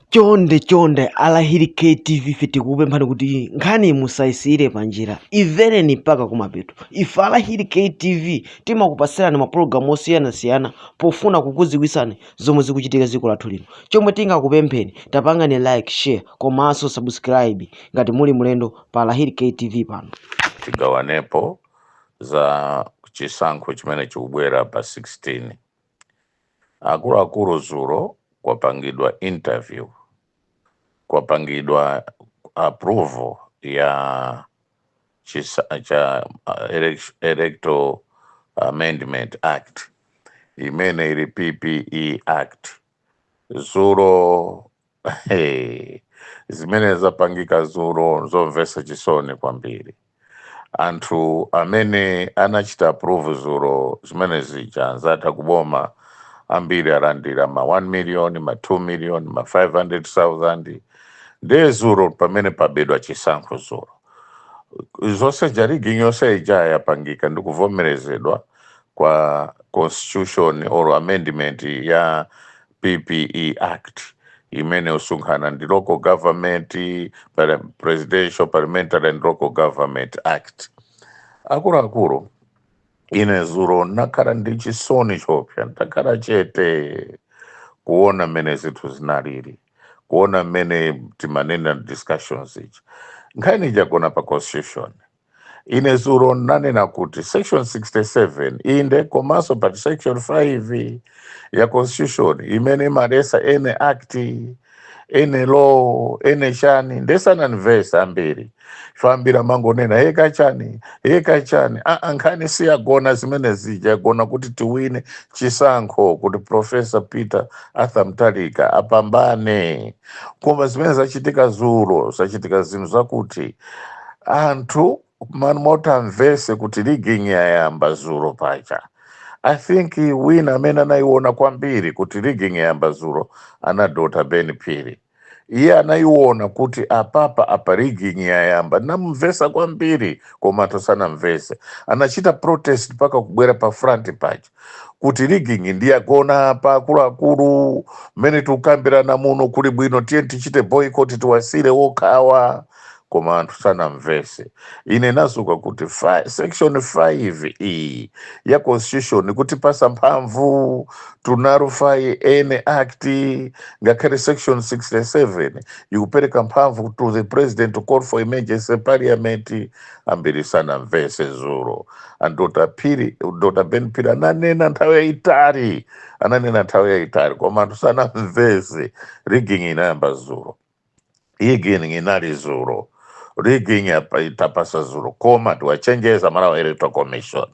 chonde chonde alahiri ktv ife tikukupemphani kuti nkhani musayisiyire panjira imvereni mpaka kumapeto ife alahiri ktv timakupatsirani mapulogalamu osiyanasiyana pofuna kukudziwitsani zomwe zikuchitika dziko lathu lino chomwe tingakupempheni tapangani like share komanso subscribe ngati muli mlendo pa alahiri ktv pano tigawanepo za chisankho chimene chikubwera pa 16 Akuluakulu zulo kwapangidwa interview kwapangidwa approval ya chisa, cha uh, elec- electoral amendment act imene ili PPE act zulo Hey, zimene zapangika zuro nzomvesa chisoni kwambiri. Anthu amene anachita approve zuro zimene zija anzatha kuboma ambiri alandira ma 1 million, ma 2 million, ma 500,000 ndiye zuro pamene pabedwa chisankho zuro zonse ya rigging yonse ija yapangika ndi kuvomerezedwa kwa constitution or amendment ya PPE Act imene usunkhana ndi local government presidential parliamentary and local government act akuluakulu ine zuro nakhala ndi chisoni chopsa ndakhala chete kuona mmene zinthu zinalili kuona mmene timanena discussions zija nkhani ija yagona pa constitution ine zuro nanena kuti section 67 inde komanso pa section 5 ya constitution imene imalesa any act any law any chani nde sananimvese ambiri ayamba amangonena yeka chani yeka chani aa nkhani siyagona zimene zija yagona kuti tiwine chisankho kuti profesa peter arthur mutharika apambane koma zimene zachitika zuro zachitika zinthu zakuti anthu man- motamvese kuti rigging yayamba zuro paja i think wina amene anayiona kwambiri kuti rigging yayamba zuro ndi a dr ben phiri iye anayiona kuti apapa apa rigging yayamba namumvesa kwambiri koma anthu sanamvese anachita protest mpaka kubwera pa front paja kuti rigging nde yagona apa akuluakulu mmene tikukambirana muno kuli bwino tiyeni tichite boycott tiwasire wokhawa koma anthu sanamvese ine nawauza kuti fi- section 5 iyi ya constitution ikutipasa mphamvu to nullify any act ngakhale section 67 ikupereka mphamvu to the president to call for emergency parliament ambiri sanamvese zulo and dr phiri dr ben phiri ananena nthawi yayitali ananena nthawi yayitali koma anthu sanamvese rigging inayamba zulo rigging inali zulo rigging yapa- itapasa zulo koma tiwachenjeza malawi electoral commission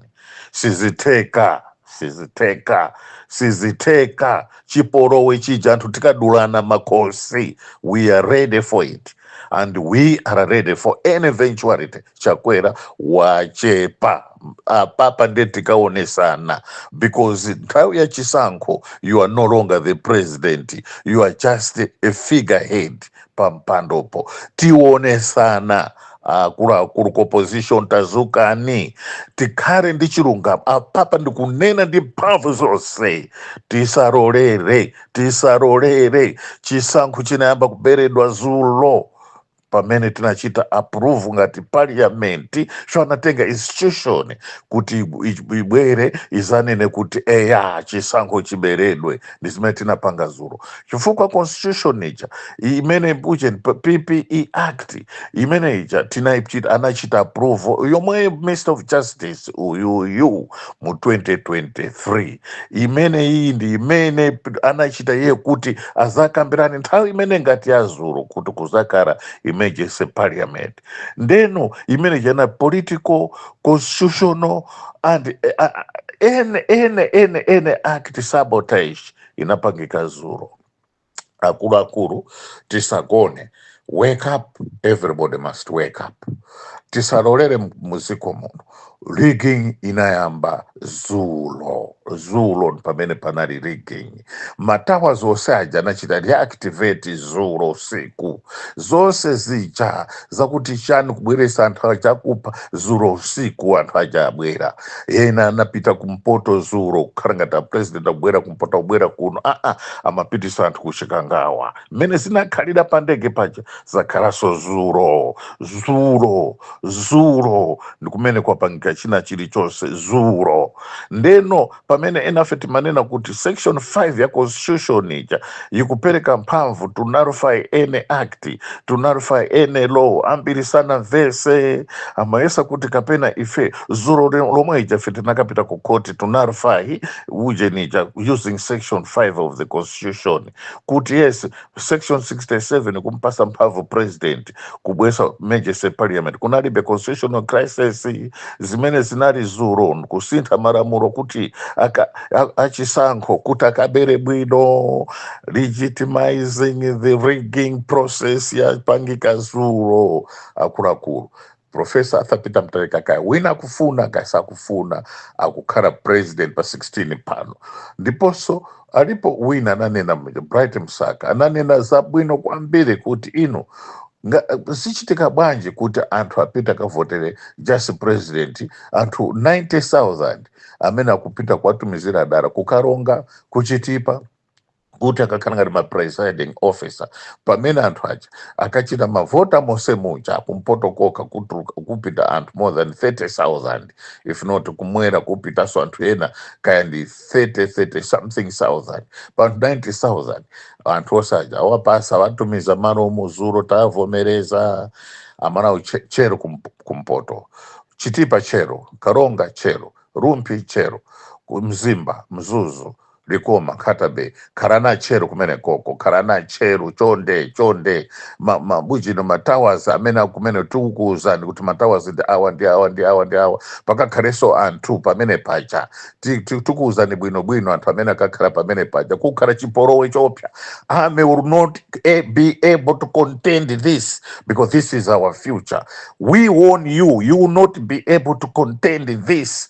sizitheka sizitheka sizitheka chipolowe chija anthu tikadulana makhosi we are ready for it and we are ready for any eventuality chakwera wachepa apapa nde tikaonesana because nthawi ya chisankho you are no longer the president you are just a figurehead pampandopo tionesana akuluakulu ku opposition tazukani tikhale ndi chilungamo apapa ndikunena ndi mphamvu zonse tisalolere tisalolere chisankho chinayamba kuberedwa zulo pamene tinachita approve ngati parliament so anatenga institution kuti ibu- ibu- ibwere izanene kuti eya chisankho chiberedwe ndi zimene tinapanga zulo chifukwa constitution ija i- imene ujeni ppe act imene ija tinaichita- anachita approve yomwe minister of justice uyuyu mu 2023 imene iyi ndi imene p- anachita iye kuti azakambirane nthawi imene ngati yazulo kuti kuzakhala emergency parliament ndeno imene jana political constitutional and eh, ah, ah, ene ene ene ene act sabotage inapangika zuro akuluakulu tisagone wake up everybody must wake up tisalolere muziko muno rigging inayamba zulo zulo pamene panali rigging matawa onse aja anachita reactivate zulo usiku zonse zija zakuti chani kubweresa anthu achakupha zulo usiku anthu aja abwera ena anapita kumpoto zulo kukhala ngati apresident akubwera kumpoto akubwera kuno aa amapitisa anthu kuchikangawa mmene zinakhalira pa ndege paja zakhalanso zulo zulo zulo ndi kumene kwapangika china chilichonse zulo ndeno pamene enafe timanena kuti section 5 ya constitution ija ikupereka mphamvu to nullify any act to nullify any law ambiri sanamvese amayesa kuti kapena ife zulo le- lomwe lija ife tinakapita ku court to nullify ujeni ija using section 5 of the constitution kuti yes section 67 kumpasa mphamvu president kubweresa emergency parliament kunalibe constitutional crisis zimene zinali zulo nkusintha malamulo kuti aka, a, achisankho kuti akabere bwino legitimizing the rigging process yapangika zulo akuluakulu Professor Arthur Peter Mutharika kaya wina akufuna kaya sakufuna akukhala president pa 16 pano ndiponso alipo wina ananena mja, Bright Msaka ananena zabwino kwambiri kuti ino zichitika bwanji kuti anthu apita akavotere just president anthu 90000 amene akupita kuwatumizira dala ku Karonga ku Chitipa kuti akakhale ngati ma presiding officer pamene anthu aja akachita mavota monse muja kumpoto kokha kutuluka kupita anthu more than 30000 if not kumwera kupitanso anthu ena kaya ndi 30 30 something thousand pa anthu 90000 anthu onse aja awapasa awatumiza malo omwe dzulo tavomereza amanawo tche- tcheru kump- kumpoto Chitipa tcheru Karonga tcheru Rumphi tcheru Mzimba Mzuzu Likoma Nkhata-Bay khalani atcheru kumenekoko khalani atcheru chonde chonde ma, mabujino ma towers amene kumene tikukuwuzani kuti ma towers ndi awa ndi awa ndi awa ndi awa pakakhalenso anthu pamene paja Ti- ti- tikuwuzani bwinobwino anthu amene akakhala pamene paja kukakhala chipolowe choopsa army will not eh, be able to contend this because this is our future we warn you you will not be able to contend this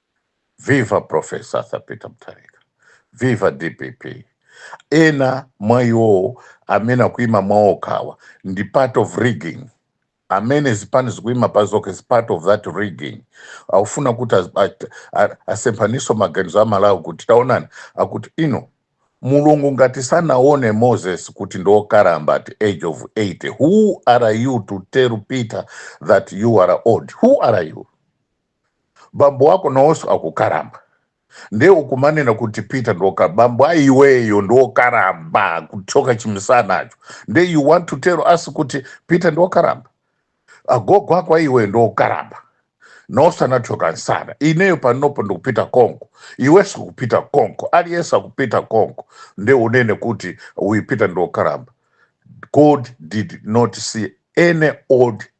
Viva Prof. Arthur Peter Mutharika. Viva DPP. Ena mwa iwowo amene akuima paokhawa ndi part of rigging. Amene zipani zikuima pazokha is part of that rigging. Akufuna kuti az- at- a- asemphanitse maganizo a Malawi kuti taonani akuti ino Mulungu ngati sanaone Moses kuti ndi okalamba at age of 80. Who are you to tell Peter that you are old? Who are you? bambo wako nawonso akukalamba nde ukumanena kuti Peter ndoka- bambo a iweyo ndi okalamba kuthyoka chimisanacho nde you want to tell us kuti Peter ndi okalamba agogo ako a iweyo ndi okalamba nawonso anathyoka msana ineyo panopo ndikupita konko iwenso ukupita konko aliyense akupita konko nde unene kuti uyu Peter ndi okalamba God did not see any old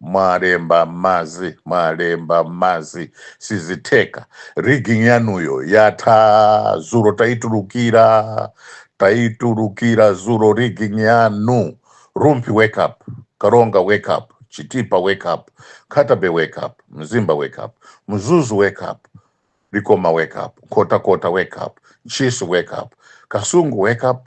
Mwalemba mmadzi, mwalemba mmadzi, sizitheka. Rigging yanuyo yatha dzulo taitulukira, taitulukira dzulo rigging yanu. Rumphi wake up, Karonga wake up, Chitipa wake up, Nkhata-Bay wake up, Mzimba wake up, Mzuzu wake up, Likoma wake up, Nkhotakota wake up, Ntchisi wake up, Kasungu wake up,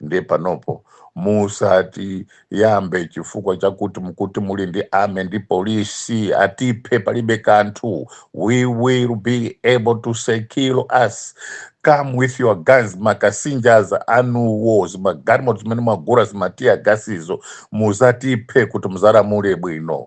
ndiye panopo musatiyambe chifukwa chakuti mukuti muli ndi army ndi polisi atiphe palibe kanthu we will be able to secure us come with your guns ma kasinja anuwo zimagalimoto zimene mwagula zima tear gasizo mudzatiphe kuti mudzalamule bwino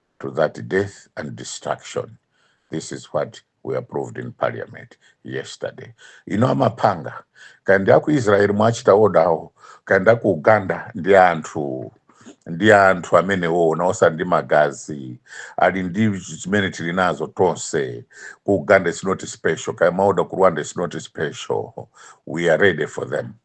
to that death and destruction. This is what we approved in parliament yesterday. Ino amapanga kaenda ku Israel mwachita odawo kaenda ku Uganda ndi anthu ndi anthu amenewo nawonso ndi magazi ali ndi zimene tili nazo tonse ku Uganda is not special kaya maoda ku Rwanda is not special we are ready for them